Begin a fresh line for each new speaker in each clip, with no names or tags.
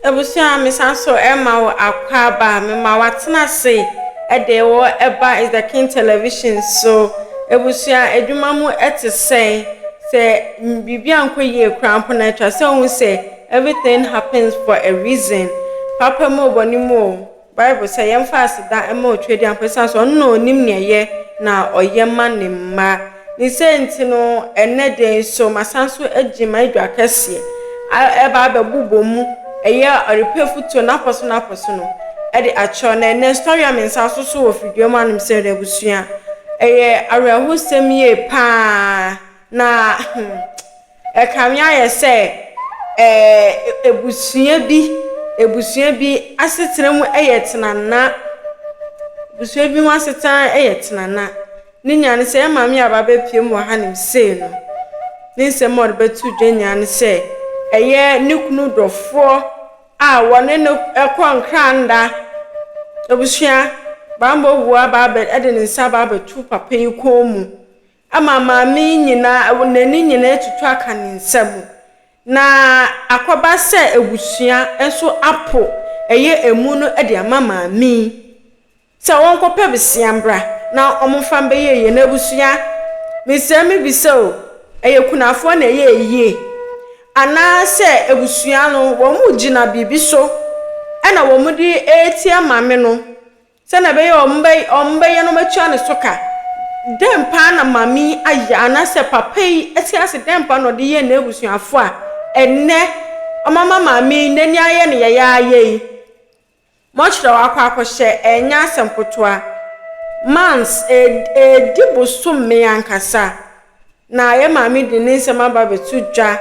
Abusua a mesan so rema wo akwaaba a mema woatena ase de wo ba is the king television so. Abusua adwuma mu te sɛn? Sɛ biribi ankɔ yie koraa mpo no atwa sɛ wohu sɛ everything happens for a reason. Papa mu o, bɔne mu o, Bible sɛ yɛmfa aseda mma Otuadiankɔ esiane sɛ ɔno na onim nea ɛyɛ na ɔyɛ ma ne mma. Ne sɛɛ nti no, ɛnnɛ de nso, masan so agyin m'adwa kɛseɛ a ɛreba abɛbobɔ mu, ɛyɛ a ɔrepɛ afutuo no akɔ so no akɔ so no de akyerɛw. Na ɛnnɛ nso tɔwea mmiɛnsa asoso wɔ fidua mu anom sɛ n'abusua. Ɛyɛ awerɛhosɛm yie pa ara na hmm. Ɛkame ayɛ sɛ abusua bi abusua bi asetena mu yɛ tenana. Abusua bi mu asetena yɛ tenana. Ne nyinaa ne sɛ, yɛn maame a waba abɛpue mu wɔ hanom sei no, ne nsɛm a ɔde bɛto dwa nyinaa ne sɛ, ɛyɛ ne kunu dɔfoɔ a wɔne no kɔ nkranda. Abusua, banbɔ wura aba abɛ de ne nsa aba abɛto papa yi kɔn mu. Ama maame yi nyinaa n'ani nyinaa atutu aka ne nsa mu, na akɔba sɛ abusua nso apo ɛyɛ amu no de ama maame yi sɛ ɔnkɔpɛ bsea mbra na ɔmfa mbɛyɛ yɛn abusua mesrɛ me bisa o ɛyɛ kunafoɔ na ɛyɛ yie anaa sɛ abusua no wɔn gyina biribi so ɛna wɔn de ɛretia maame no Sɛnea ɛbɛyɛ a wɔbɛyɛ na wɔatua ne so ka. Dɛn paa na maame yi ayɛ anaasɛ papa yi te ase? Dɛn paa na ɔde yɛɛ n'abusuafo a ɛnnɛ wɔama maame yi n'ani ayɛ no yayaayaw yi? Moakyerɛw akɔ akɔhyɛ, ɛnyɛ asɛm ketewa. Months, ɛredi bosome ankasa. Na yɛn Maame de ne nsɛm aba abɛto dwa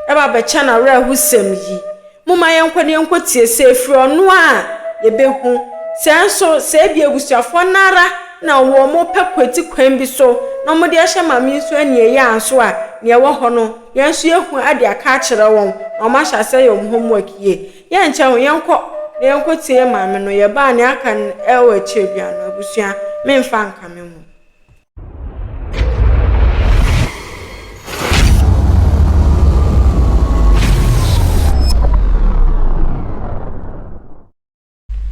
de abɛkyɛ no awerɛhosɛm yi. Momma yɛnkɔ na yɛnkɔtie, sɛ ɛfiri ɔno a yɛbɛhu. Sɛ nso, sɛ ebia abusuafoɔ no ara na wɔpɛ kwati kwan bi so na wɔde ahyɛ Maame yi nso aniɛyaa nso a, deɛ ɛwɔ hɔ no, yɛn nso yɛahu de aka akyerɛ wɔn, na wɔahyɛ aseɛ ayɛ wɔn homework yie. Yɛnkyɛ ho, yɛnkɔ na yɛnkɔtie yɛn Maame no. Yɛba a, deɛ aka no wɔ akyire biara no, abusua, memfa nka me ho.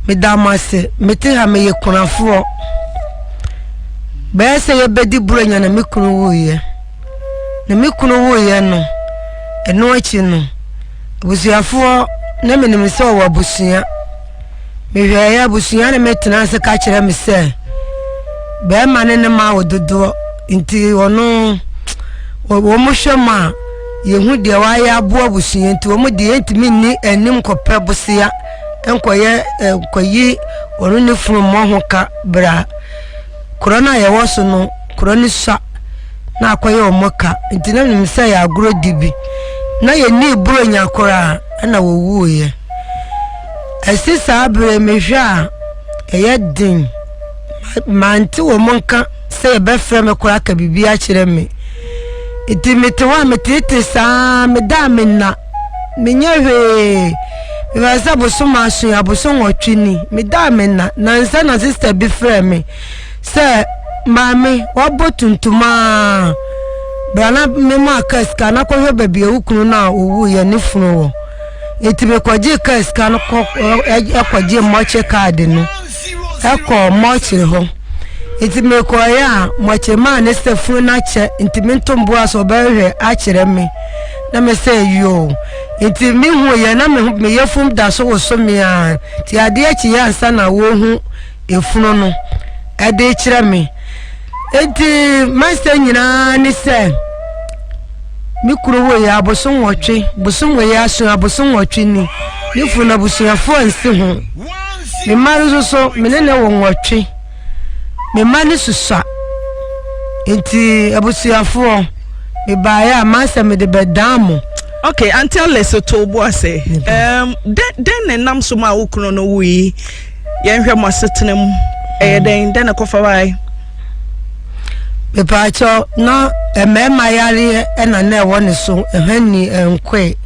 meda mo ase mete ha meyɛ kunafoɔ bɛyɛ sɛ yɛbɛdi buro nya na me kunu wuiɛ na me kunu wuiɛ no ɛno akyi no abusuafoɔ na menim sɛ ɔwɔ abusua Mehwɛeɛ, abusua ne me tenaa ase ka kyerɛ me sɛ, bɛrima ne no ma wo dodoɔ, nti ɔno wɔn hwɛ mu a, yɛhu deɛ wayɛ aboa abusua nti wɔn deɛ yɛntumi nni anim nkɔpɛ bosea nkɔyɛ eh, nkɔyi wɔn ne funu mmɔ ho ka bra korɔ no a yɛwɔ so no korɔ no sua na akɔyɛ wɔn ka nti na nim sɛ yɛ agorɔ di bi na yɛnni buro nya koraa ɛna wɔwuiɛ Ɛse saa berɛ mehwɛ a ɛyɛ den mante wɔn nka sɛ yɛbɛfrɛ me koraa ka biribi akyerɛ me nti mete hɔ a metete saa meda a menna menyɛ hwee mefɛ sɛ bosom aso yɛ abosom wɔtwe ni meda a menna nansɛ na sista bi frɛ me sɛ maame wabɔ tuntum a brana mema aka sika na kɔhwɛ baabi a wo kunu no a ɔwu yɛ ne funu wɔ Enti mekɔgyee kaa sika no kɔ ɛkɔgye mɔkye kaad no ɛkɔ mɔkyere hɔ nti mekɔeɛ a mɔkyere maa ne sɛ funu no akyɛ nti mentomboa so ɔbɛhwɛ akyerɛ me na me sɛ yoo nti mehuiɛ na meyɛ fom da so woso me a nti adeɛ kyeeɛ ansa na wɔhu efunu no ɛde kyerɛ me eti masta nyinaa ne sɛ me kuro wɔ yi abosom wɔtwe bosom wɔ yi aso abosom wɔtwe ni ne funu no abusuafoɔ nsi ho me mma no nso so me ne ne wɔ wɔtwe me mma no susua nti abusuafoɔ me baayɛ a masta mede bɛdaa mo okay anti
alice to boa sɛ um, dɛn na ɛnam so ma wo kunu no wui Yɛnhwɛ mo asetena mu. Ɛyɛ dɛn? Dɛn na ɛkɔfa bae?
Mepaakyɛ na mmarima yareɛ ɛna na ɛwɔ ne so ɛhɛn ni ɛnkoe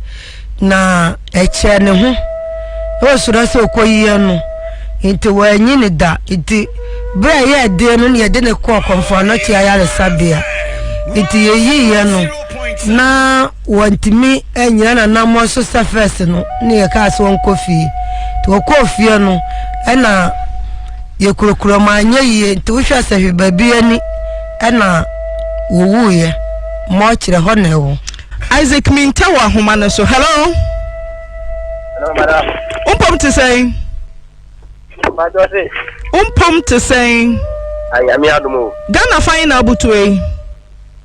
na ɛkyɛ ne ho ɛwɔ soro sɛ ɔkɔ yie no nti wɔanyi ne da nti berɛ a yɛyɛ deɛ no yɛde ne kɔɔ kɔmfoɔ anɔte ayaresabea nti yɛyiiɛ no na wɔntumi annyina n'anammɔn so sɛ fɛs no ne yɛkaa sɛ wɔnkɔ fie nti wɔkɔɔ fie no ɛna yɛkurokuro ma anyɛ yie nti wohwɛ sɛ hwe baabi ani ɛna wɔwuiɛ ma ɔkyerɛ hɔ na ɛwɔ Isaac Minta
wɔ ahoma no so hello wompom te sɛn wompom te sɛn
Ghana fa yi na
abotue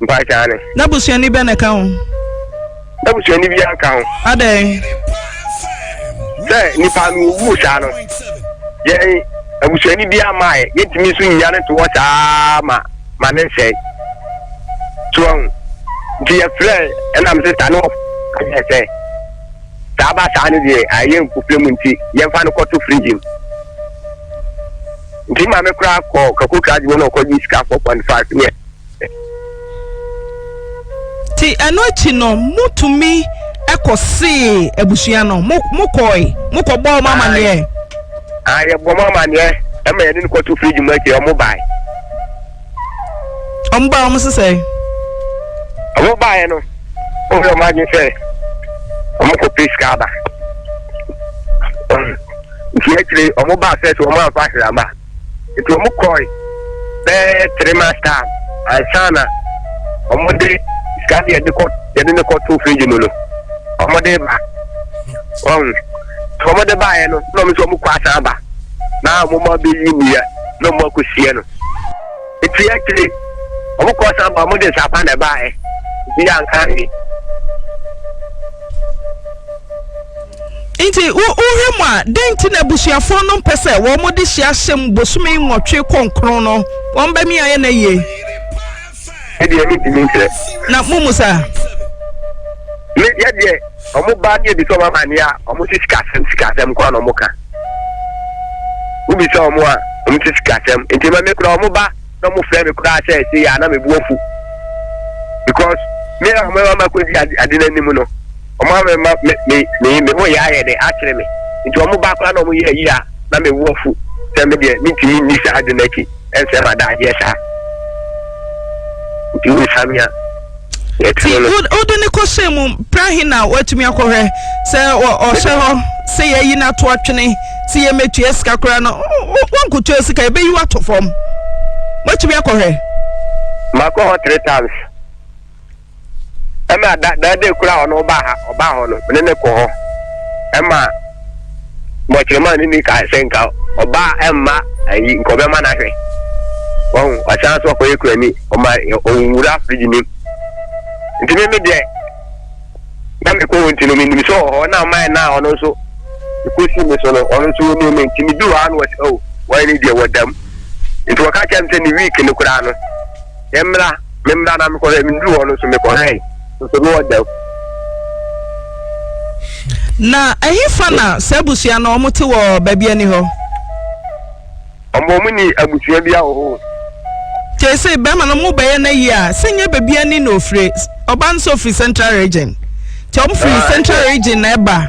Mpakyɛ ane.
Na busuani bɛ na ɛka
ho? Na
busuani bi anka ho. Adɛn? Sɛ nipa no owu saa no, yɛn abusuani bi ama yɛ, yɛntumi nso nnya no to hɔ saa ma ma ne nsɛe. So ɔn, nti yɛfrɛ ɛna me sista ne ɔfrɛ sɛ saa ba saa no deɛ ayɛ nkufrɛ mu nti yɛmfa no kɔto frigye mu. Nti ma me koraa kɔ kakokra adwuma na ɔkɔgye sika 4.5 neɛ
Nti ɛno akyi no motumi ɛkɔ see abusua no mo mo kɔɔe mo kɔ bɔɔ mo amaneɛ. Aa ah, yɛ
bɔ mo amaneɛ ɛma yɛne no kɔto fridge mu akyi ɔmo bae.
Ɔmo bae ɔmo sesɛ.
Ɔmo baeɛ no ɔmo yɛ ɔmo adwene sɛ ɔmo kɔ pay sika aba. Nti akyire ɔmo baa sɛ sɛ ɔmo amfa ahwera aba. nti wɔn kɔɔe bɛɛ three months time ansa na wɔn de sika ne yɛde kɔ yɛde ne kɔ to fridge mu no wɔn de ba wɔn nti wɔn de ba yɛ no na wɔn nso wɔn kɔ asan ba na wɔn ma bɛ yi nnua na wɔn akɔ sie no nti yɛ akyire wɔn kɔ asan ba wɔn de nsapa na ɛba yɛ bi anka ne.
Enti wohwɛ mu a, dɛn nti na abusuafo no mpɛ sɛ wɔde hye ahyem bosome nwɔtwe kɔnkron no? Wɔn ba mi ayɛ na yie.
Me deɛ me ntumi nkyerɛ. Na mo mu saa? Me deɛ deɛ wɔn ba ne ebi sɛ wɔn amaneɛ a wɔn si sikasɛm sikasɛm kora na wɔn ka. Wobi sɛ wɔn a wɔn si sikasɛm nti ma me kora wɔn ba na wɔn fɛ me kora sɛ ɛsɛ yɛ ana me bu afu because me a wɔn ama kɔ di ade n'anim no. wɔn a mema me me me me ho yɛ ayɛ dɛ akyere me nti wɔn ba koraa na wɔn yɛ ayi a na me wɔ fu sɛ me deɛ me ntumi nni saa ade no akyi ɛnsɛ ma da adeɛ saa nti wo samia ti
wode ne kɔhyɛ mu pra he na woatumi akɔhwɛ sɛ ɔhyɛ hɔ sɛ yɛyi no ato atwene sɛ yɛmɛtua sika koraa no wonkotua sika yɛbɛyi woato fam woatumi akɔhwɛ makɔ
hɔ three times ɛna da da de kura ɔno ɔba ha ɔba hɔ no ne ne kɔ hɔ ɛma bɔkyerɛma ne ne kaa sɛ nka ɔba ɛmma ayi nka ɔbɛma no ahwɛ wɔn ɔsan so ɔkɔyɛ kura ni ɔma ɔwura firiji ni nti me me deɛ na me kɔ wɔn ti no me nim sɛ ɔhɔ na ɔman na ɔno nso ekosi mi so no ɔno nso wɔn mu mi nti mi du hɔ ano ɔsi o wɔn ani deɛ wɔdam nti wɔka kyɛm sɛ ne week no koraa no. Yɛmmra, memmra na mekɔhwɛ. Meduru hɔ no nso mekɔhwɛe, nso na ɔda mu.
Na ɛhefa na saa abusua no wɔte wɔ baabi ani hɔ?
Wɔn wɔn ni abusua bi wɔ hɔ. Te se
bɛrima no mo bɛyɛ n'ayi a sɛ nyɛ baabi ani na ofire ɔba no sɛ ofiri central region te wɔn firi central region na ɛba.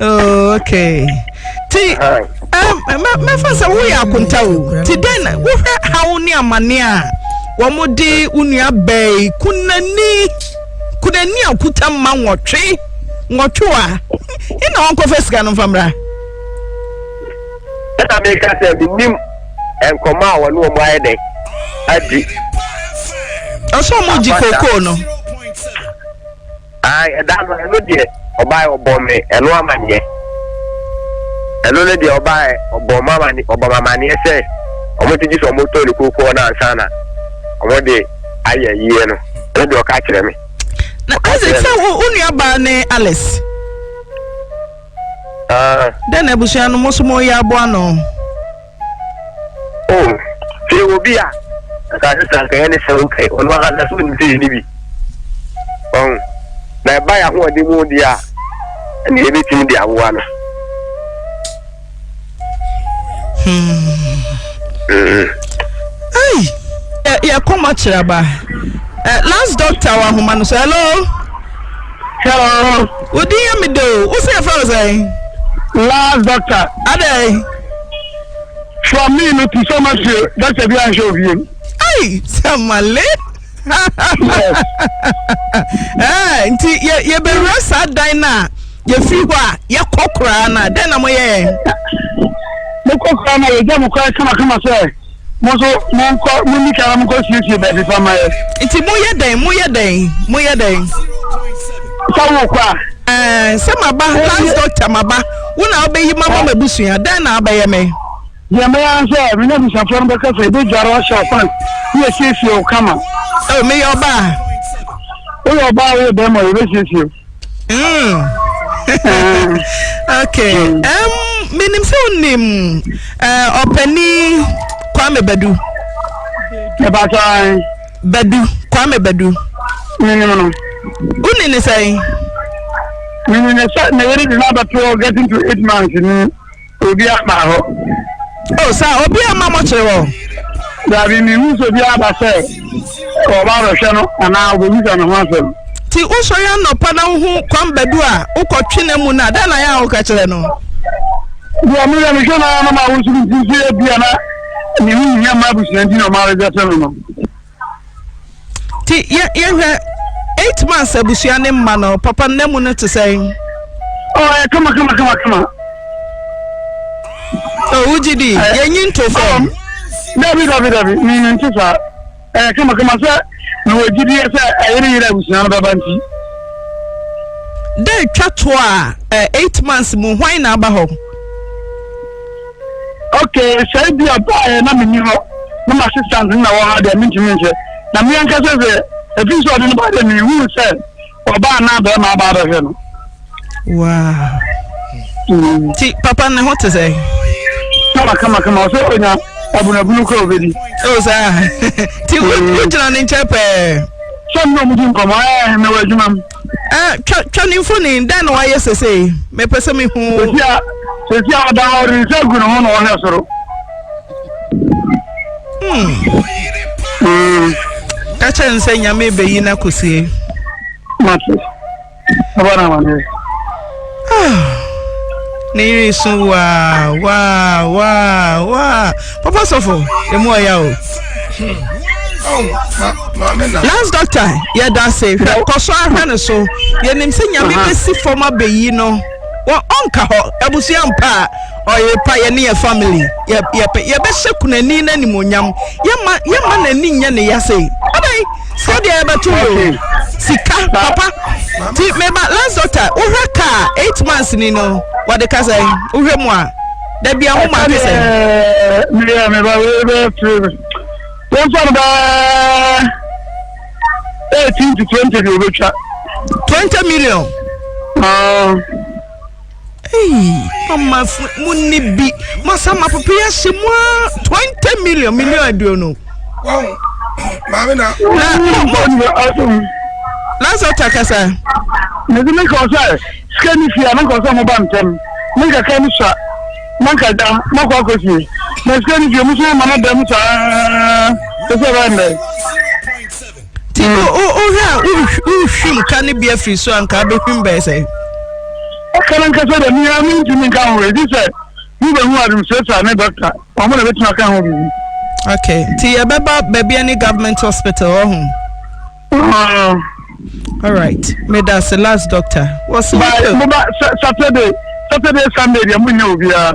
Oh, okay ti mɛfa sɛ woyɛ akonta o ti dɛn wohwɛ haw ne amane a wɔde wo nua bɛɛ kunani kunani a kuta mma nwɔtwe nwɔtwe a ɛna wɔnkɔfa sika
no mfa mmra ɛna
meka
sɛ
menim
nkɔmmɔ a wɔne wɔn ayɛ dɛn adi
ɔsɛ ɔmo gye kookoo no
Ae ɛda no ɛno deɛ ɔbaɛ ɔbɔ me ɛno amaneɛ ɛno no deɛ ɔbaɛ ɔbɔ mamane ɔbɔ mamaneɛ sɛ ɔmo te gyesɛ ɔmo tɔ ne kookoo no ansa na ɔmo de ayɛ ayie no ɛno deɛ ɔka kyerɛ me na Isaac sɛ
wo wo nua baa ne Alice ah. dɛn na abusua no mo so mo yɛ aboa no. O,
sɛ yɛwɔ obi a, anka ne sɛ anka yɛ ne sɛ wo pɛ, ɔno ankasa so nim sɛ yɛ ne bi. Ɔn, na ɛba yɛ ahoɔden mu deɛ a, ɛne yɛbɛtumi de aboa no.
yɛkɔma kyerɛ ba eh, last doctor wɔ ahoma no so hello Hello. Wo din yɛ me de o. Wo sɛ yɛfrɛ wo sɛn? Last
doctor. Adɛn? From me no to so much you. Doctor bi anhwɛ obiem. Ai,
samale. Eh, nti yɛbɛwura saa dan no a yɛfiri hɔ a yɛkɔ koraa no a dɛn na moyɛ yɛn?
mokɔ koraa no a yɛgya mo koraa kamakama sɛ mo nso monkɔ monni kan na monkɔsiesie baabi pa ma yɛ nti moyɛ dɛn
moyɛ dɛn moyɛ dɛn
sɛ wokɔ a ɛɛ sɛ maba
last doctor maba wo na wobɛyi ma ma m'abusua dɛn na abɛyɛ me deɛ mɛyɛ ara
sɛ me ne abusuafoɔ no bɛkasa ɛbɛdware ɔhyɛ ɔkwan ne yɛsiesie wo kama oh, meyɛ ɔbaa
woyɛ
ɔbaa woyɛ bɛrima yɛbɛsiesie Mm.
Ah. okay. Mm. Um, menim sɛ wonim uh, ɔpani kwame badu
ɛbasa badu
kwame badu menim no
woni
ne sɛn
menim ne sɛ ne yere de no abɛtoɔ getting to eight months ni Obi aba hɔ. O oh, saa
obi ama mɔkyere hɔ. Dabi mi
hu so bi aba sɛ ɔba abɛhwɛ no anaa ɔbɛbisa ne ho asɛm. Ti wosɔre anɔpa
na wohu kwan badu a wokɔtwe no mu no a dɛn na yɛ a woka kyerɛ no? Deɛ
meyɛ mehwɛ no ara no ma wo so mfiri so yɛ bia na mehu hia ma abusua nti na ɔma rebɛsɛ no no.
nti yɛ yɛhwɛ eight months abusua ne mma no papa nna mu no te sɛn. ɔ ɛ
kama kama kama kama.
owu gyi di yɛn nyi nto fam. dabi dabi
dabi mi mi nti saa ɛ kama kama sɛ mi wɔ gyi di yɛ sɛ ɛyere yere abusua no bɛba nti. dɛ
twa to a ɛ eight months mu hwan na aba hɔ.
Okay, sɛ ebi a baeɛ na menni hɔ na m'assistant no na wɔ ha deɛ mentumi nhyɛ. Na me ankasa sɛ ɛfiri sɛ ɔde no baa deɛ mehuu sɛ ɔbaa na bɛrima aba abɛhwɛ no.
Wow. Mm. Ti papa ne ho te sɛ? Kama
kama kama ɔsɛ ɔnya abunabunu kɔ obedi. O oh, saa.
Ti wogyina mm. ne nkyɛn pɛɛ. Sɛ mi na ɔmo di
nkɔmɔ ɛɛ mɛ wɔ adwuma mu. Eh, twa twa
ne mfoni dɛn na wayɛ sesei mepɛ sɛ mehu sɛsi a sɛsi a
ɔda hɔ de nsa gu ne ho na ɔhwɛ soro hmm. hmm.
ka kyerɛ ne sɛ nyame bɛyi no akɔsie
mate ɛbɔ no amanneɛ Ah!
Ne yere resu waa waa waa waa. Papa sɔfo, emu ɔya o. Last doctor, yɛda ase. Hwɛ kɔ so ahwɛ no so. Yɛnim sɛ nyame bɛsi fam abɛyi no. Wɔ ɔnka hɔ, abusua mpa a ɔyere pa yɛne yɛ family. Yɛbɛhyɛ kunani no animonyam. Yɛma n'ani nyɛ ne yase. Adɛn? So deɛ ɛbɛto yɛ o sika papa ti meba last doctor wohwɛ kaa eight months ni no wɔde ka sɛ wohwɛ mu a dabi ɛho ma ake sɛ. meyɛ
meba wei bɛ firi mi wɔn fɔ no bɛ eighteen to twenty de o bɛ twa. twenty
million. Uh, Eii mamafo mo ni bi masa ma papa yi ahyɛ mu a twenty million million aduonu.
Wɔn maame na. Na ɔbɔ
lasa ta kasa. Mede
me kɔ sɛ sika ni fia na nkɔ sɛ mo ba ntɛm ne nkaka no sa na nka da na kɔ akɔ fie na sika ni fia mo sɛ ma no dɛm saa ɛsɛ bɛn dɛ. Ti no wohwɛ a wohwim ka no
bi afiri so a nka abɛhwim bɛyɛ sɛ ɛka no
nkasa dɛ mea mentumi nka ho ɛdi sɛ mobɛhu administrator ne doctor ɔmo na bɛtumi aka ho biribi okay nti
yɛbɛba baabi ne government hospital ɔho uh-huh. all right meda se last doctor wɔ so saturday saturday sunday deɛ monyɛ obiara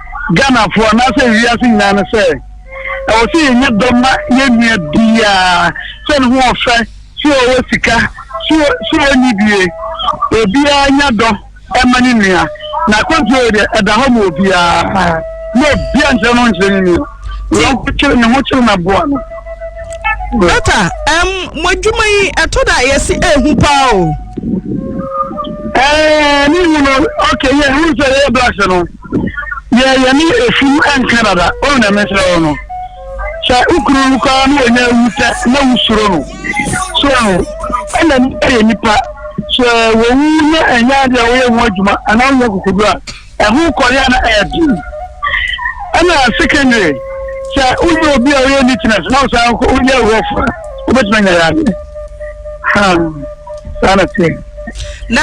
Ghanafoɔ anaasɛ wiase nyinaa no sɛ ɛwɔ sɛ yɛnya dɔ ma yɛn nua biara sɛ ne ho ɔfɛ sɛ ɔwɔ sika sɛ ɔnni bie obiara nya dɔ ɛma ne nua na akwantuo yɛ deɛ ɛda hɔ ma obiara na obia nkyerɛ no nkyerɛ ne nua wɔkyere ne ho kyere na boa no dɔkta
ɛm mo adwuma yi ɛtɔ da yɛsi ehu paa o ɛɛ
ne hu no ɔkɛ yɛ hu sɛ yɛyɛ black no deɛ yɛne ɛfum nka dada ɔn na mesrɛ wo no sɛ wo kunu no koraa na ɔnya awu sɛ na wosuro no so aho ɛna nipa yɛ nipa sɛ wɔwu na ɛnyɛ adeɛ a woyɛ ho adwuma anaa wonya kokodu a ɛho kɔyɛ a na ɛyɛ den ɛna secondary sɛ wonyɛ obi a woyɛ neatness na wosan woyɛ rough a wobɛtumi anya yɛ adeɛ saa na teɛ Na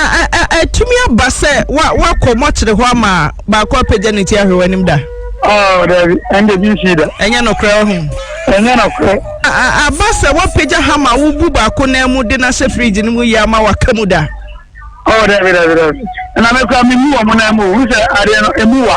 atumi aba sɛ woakɔ mɔkyere hɔ ama baako apagya ne ti ahwɛ w'anim da? Oh, dabi,
ɛnde bi nsi da. Ɛnyɛ nokorɛ wɔ ho.
Ɛnyɛ nokorɛ.
Aba sɛ
woapagya ha ma wobu baako nan mu de no ahyɛ fridge no mu yɛ ama waka mu da? Oh, dabi,
dabi, dabi. Na mekura memu wɔ mo nan mu, wohu sɛ adeɛ no, ɛmu wa.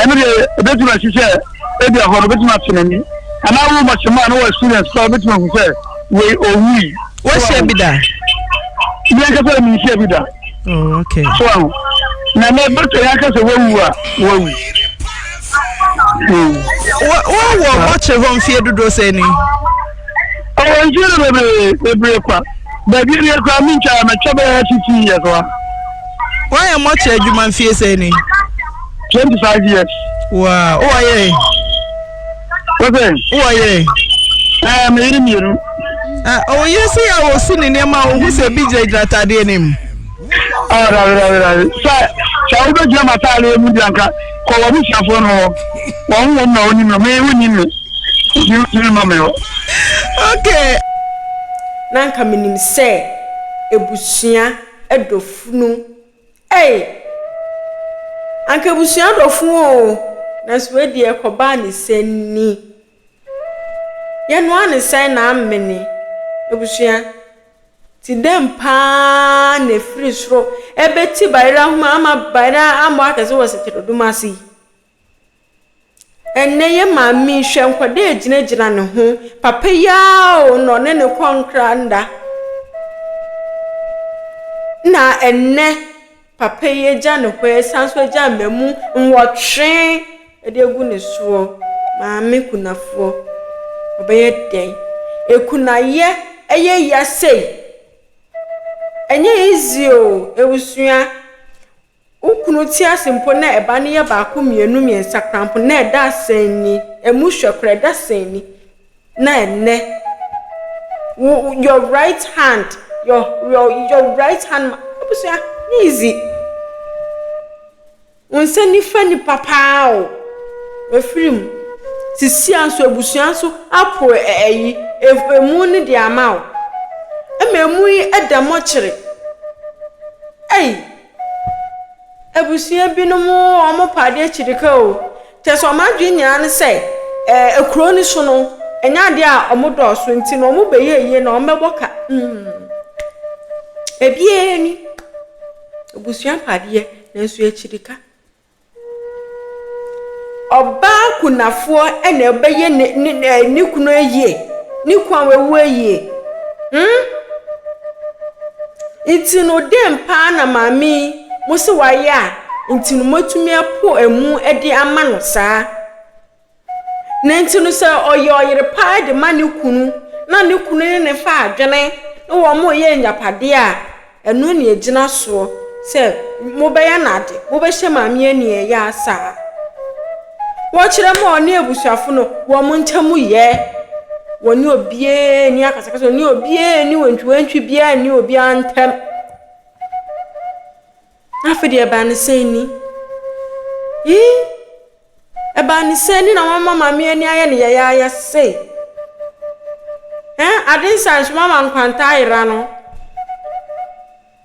ɛno deɛ ɛbɛtumi asi sɛ ebi ahɔ no bɛtumi ate n'ani anaa wo ma kyɛm a na wɔ experience koraa wobɛtumi ahu sɛ wei ɔwui wahyia bi da meankasa menhyia bi da oh, okay. so
aho
na na dɔkta yɛ aka sɛ wawu a wawu hmm.
wowɔ bɔkye hɔ mfeɛ dodoɔ sɛ ni
ɔwɔ mfeɛ no bebree bebree kwa baabi deɛ koraa mentwa mɛkyɛ bɛyɛ titi yɛ soa Woayɛ
mmɔkyerɛ adwuma mfie sɛ ni? Twenty five
years. Waa wowɔ
yere?
Wosɛ? Wowɔ
yere? Ɛɛ eh, me yere
mmienu. Ah,
ɔwɔ yere sɛ yɛ a wɔsi ne nneɛma a wɔhu sɛ ebi gyinagyina ataadeɛ no mu. Ah, dabi
dabi dabi sɛ sɛ wobɛgyina ma ataadeɛ mu di anka kɔ wɔ abusuafoɔ no hɔ wɔn ho wɔm na wɔnim no me wonim me nti wotumi ma me hɔ. Okay.
na nka menim sɛ ebusua dɔ funu ei anka abusua dɔ funu oo nanso wei deɛ kɔbaa ne sɛ ni yɛnoa ne sɛn na amene abusua ti dɛm paa na efiri soro ɛbɛti bayerɛ ahoma ama bayerɛ amɔ akɛse wɔ seteredum ase yi Ɛnnɛ yɛ maame yi, hwɛ nkwadaa a ɛgyinagyina ne ho. Papa yi ara o na ɔne no rekɔ nkra nna. Ɛna ɛnnɛ papa yi agya ne hɔ asane nso agya mmamu nwɔtwe de agu ne soɔ. Maame kunafoɔ, ɔbɛyɛ dɛn? Kunayɛ yɛ ya sei. Ɛnyɛ easy o abusua. Wo kunu te ase mpo na ɛba no yɛ baako mmienu mmiɛnsa koraa mpo na ɛda asɛn ni, ɛmu hwɛ koraa ɛda asɛn ni. Na ɛnnɛ, wo your right hand, your your your right hand ma abusua nyɛ easy. Wo nsa nifa nipa paa o, wafiri mu. Sisia nso abusua nso apo ɛ ɛyi ef emu no de ama wo. Ɛma emu yi ɛda mɔkyere. Ei! Abusua binom wɔn pa adeɛ akyiri ka o. Kyerɛ sɛ wɔn adwene nyinaa ne sɛ ɛɛ kuro no so no, ɛnyɛ adeɛ a wɔdɔɔso nti no wɔbɛyɛ yie na wɔbɛbɔ ka. Hmm. Ebiara ni. Abusua pa adeɛ nanso akyiri ka. Ɔbaa kunafoɔ na ɔbɛyɛ ne ne ne ɛɛ ne kunu ayie, ne kunu a wawu ayie. Hmm. Nti no, dɛn paa na maame yi mo se wayɛ a nti no moatumi apo amu de ama no saa? Na enti no sɛ ɔyɛ ɔyere pa ara de ma ne kunu, na ne kunu ne no fa adwene, na wɔreyɛ agyapadeɛ a, ɛno na ɛgyina soɔ sɛ mobɛyɛ no ade, mobɛhyɛ maame aniɛyaa saa. Wɔkyerɛ mu a, ɔne abusuafo no, wɔn ntam yɛ. Wɔne obiara nni akasakasa, wɔne obiara nni wantwiwantwi biara nni obiara ntam. Afei deɛ ɛbaa no sɛn ni? Ii, Ɛbaa no sɛn ni na wama maame ani ayɛ no yayaaya sei? Ɛn, ade nsae nso wama nkwanta ayera no.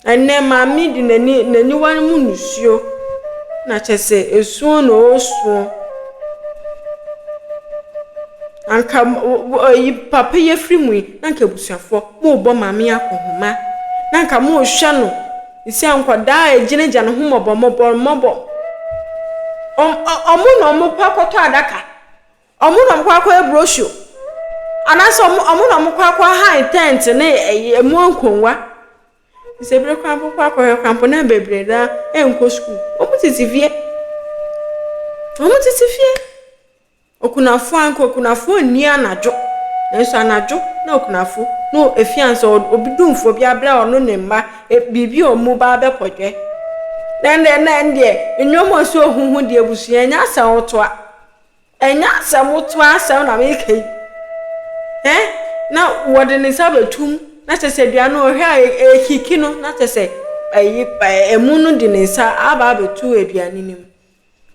Ɛnnɛ maame de n'ani n'aniwa no mu nusuo na kyɛ sɛ esuo na ɔresuo. Anka yi papa yi afiri mu yi na anka abusuafoɔ morebɔ maame akɔnhoma na anka morehwɛ no Sɛ nkwadaa a egyinagya no ho mmɔbɔ mmɔbɔ mmɔbɔ ɔm ɔmo na ɔmo kɔ akɔtɔ adaka ɔmo na ɔmo kɔ akɔyɛ brochure anaasɛ ɔmo ɔmo na ɔmo kɔ akɔ ahan tent ne ɛyi ɛmo nkonnwa sɛ bere kwan po kɔ akɔhwɛ kwan po na bebree no ara ɛnkɔ sukuu ɔmo tete fie ɔmo tete fie. Okunafo anka okunafo nni anadwo, nanso anadwo na okunafo no efi ansa obi dumfo bi abrɛ ɔno ne mma biribi a wɔn ba bɛpɔdwɛ. Na ɛnna ɛnna ɛndeɛ nnwom a ɛsɛ ohuhu deɛ abusua ɛnyɛ asɛm wotoa ɛnyɛ asɛm wotoa asɛm na meka yi ɛ na wɔde ne nsa bɛtum na kyɛ sɛ dua no ɔhwɛ a ɛkiki no na kyɛ sɛ ɛyi ɛmu no de ne nsa aba abɛtu aduane no mu.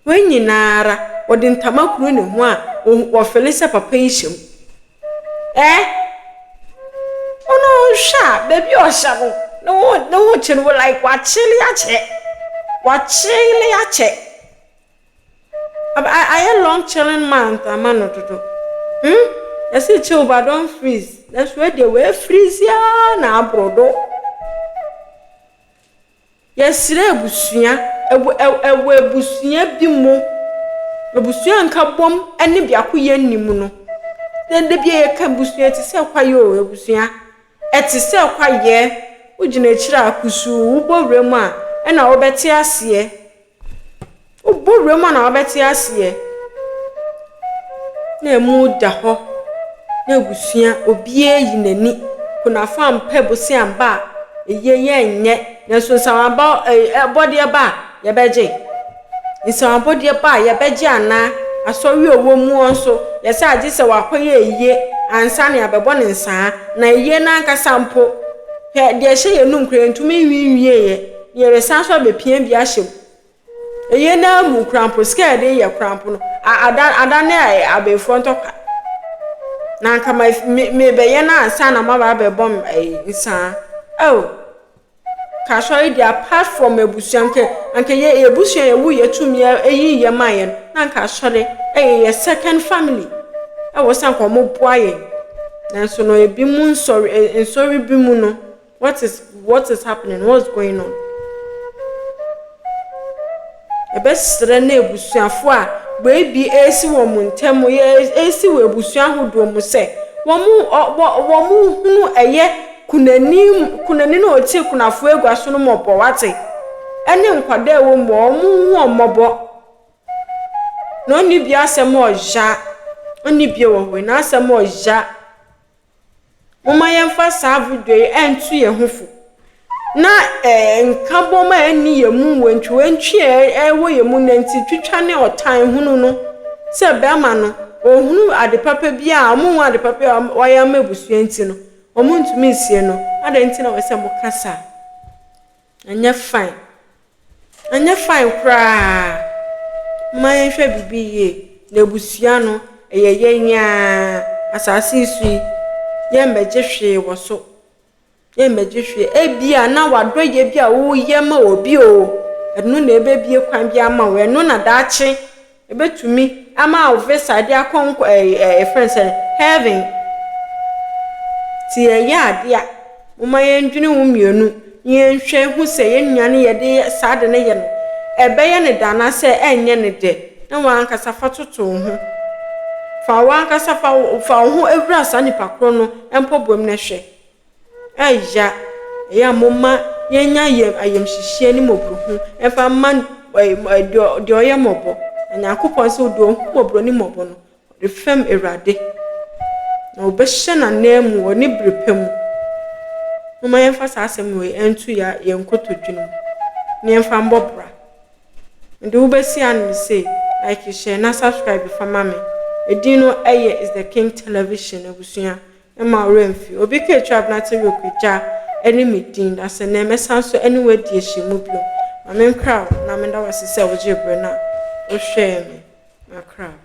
Hɔn nyinara, wɔdze ntama kor na hɔn a wɔfele sɛ papa yi hyɛ mu. Ɛɛ! Ɔno hwɛ a, beebi a ɔhyɛ no, no ho no ho kyen wo like ɔakyele akyɛ. Ɔakyele akyɛ. Aba ayɛ long chilling month ama no dodo. Hmm, yɛse chill but don't freeze, nanso wei deɛ, oefreeze ara na aboro do. Yɛsrɛ abusua, wɔ abusua bi mu, abusua nkabom ne biakoyɛ nni mu no, na da bi a yɛka abusua a, ɛte sɛ kwaeɛ o, abusua, ɛte sɛ kwaeɛ. Wogyina akyire a kusuu, wobɔ wuram a, ɛnna wobɛte aseɛ. Wobɔ wura mu a na wobɛte aseɛ. Na emu da hɔ. Na abusua, obiara ayi n'ani. Kunafo ampɛ bosea amba a, ayie yɛrenyɛ. Nanso nsawaba ɛ ɛ abɔdeɛ ba a, yɛbɛgye. Nsaw abɔdeɛ ba a, yɛbɛgye anaa? Asɔre a ɔwɔ mu nso, yɛse agye sɛ wakɔyɛ ayie ansa na yɛabɛbɔ no nsaa. Na ayie no ankasa mpo, hwɛ deɛ ɛhyɛ yɛn anum koraa, yɛntumi nwiinwieeɛ. Yɛresan so abepia bi ahyɛ mu. Ɛyɛ no ara mu korampo, sika a yɛde yɛ korampo no, ada adane abenfoɔ ntɔkwa. Na anka ma me mebɛyɛ no ansa na maba abɛbɔ me ɛyi nsaa. Oh, ka asɔre deɛ apart from abusua anka anka yɛ abusua yɛwu yɛ tumi ɛyi yɛ ma yɛn na anka asɔre ɛyɛ yɛ second family. Ɛwɔ sɛ anka wɔn boa yɛn. Nanso no ebi mu nsɔre nsɔre bi mu no. What is what is happening? What's going on? Ɛbɛsrɛ na abusuafo a baabi ɛresi wɔn ntam yɛ ɛresi wɔ abusua ahodoɔ mu sɛ wɔn wɔn hunu ɛyɛ kunani kunani na ɔte kunafo agua so no mmɔbɔ wate ɛne nkwadaa ɛwɔ mu wɔn ho wɔn mmɔbɔ na ɔne bi asɛm ɔya ɔne bi wɔ hɔ na asɛm ɔya Momma yɛmfa saa bodua yi nto yɛn ho fo na ɛɛ nkabom a ɛnni yɛn mu, wantwiwantwi a ɛwɔ yɛn mu, nantitwitwa ne ɔtan hunu no sɛ bɛrima no ɔhunu ade papa bi a wɔnhu ade papa a wɔayɛ ama abusua nti no, wɔntumi nsie no. Adɛn nti na wɔsɛ moka saa? Anyɛ fine. Anyɛ fine koraa. Momma yɛnhwɛ biribi yie. Na abusua no, ɛyɛ yɛn ara. Asase yi so yi, yɛmmɛgye hwee wɔ so. Yɛmmɛgye hwee. Ebia na w'adɔyɛ bi a woyɛ ma obi o, ɛno na ɛbɛbue kwan bi ama wo. Ɛno na daakye. Ebetumi ama wo visa de akɔ nkwa ɛyi ɛ yɛfrɛ no sɛn heaven. Nti yɛyɛ ade a momma yɛndwene wo mmienu na yɛnhwɛ hu sɛ yɛn nua no yɛde yɛ saa ade no yɛ no ɛbɛyɛ no dɛ anaasɛ ɛnyɛ no dɛ na w'ankasa fa toto wo ho. Fa w'ankasa fa wo fa wo ho wura saa nipa korɔ no mpɔboam no hwɛ. ɛya ɛya moma yɛnya yɛm ayɛmhyehyeɛ ne mmɔborohu ɛmfa mma deɛ ɔyɛ mmɔbɔ na nyankopɔn nso deɛ ɔhu mmɔborɔ ne mmɔbɔ no ɔde fɛm awurade na ɔbɛhyɛ n'ananmu wɔ ne bere pa mu moma yɛmfa saa asɛm wei ɛnto yɛ yɛn nkotodwe no mu na yɛmfa mbɔ bra mede wobɛsi ano no sei like hyɛ na subscribe fa ma me ɛdin no ɛyɛ is the king television abusua Mma wo werɛ mfi. Obi kaa atwa abena te Yok agya ne me din, na sɛ nnɛ mɛsan nso ne wo adi ahyɛmu bio. Ma menkra wo na meda wo ase sɛ wogyee bere na wohwɛɛ me. Makra wo.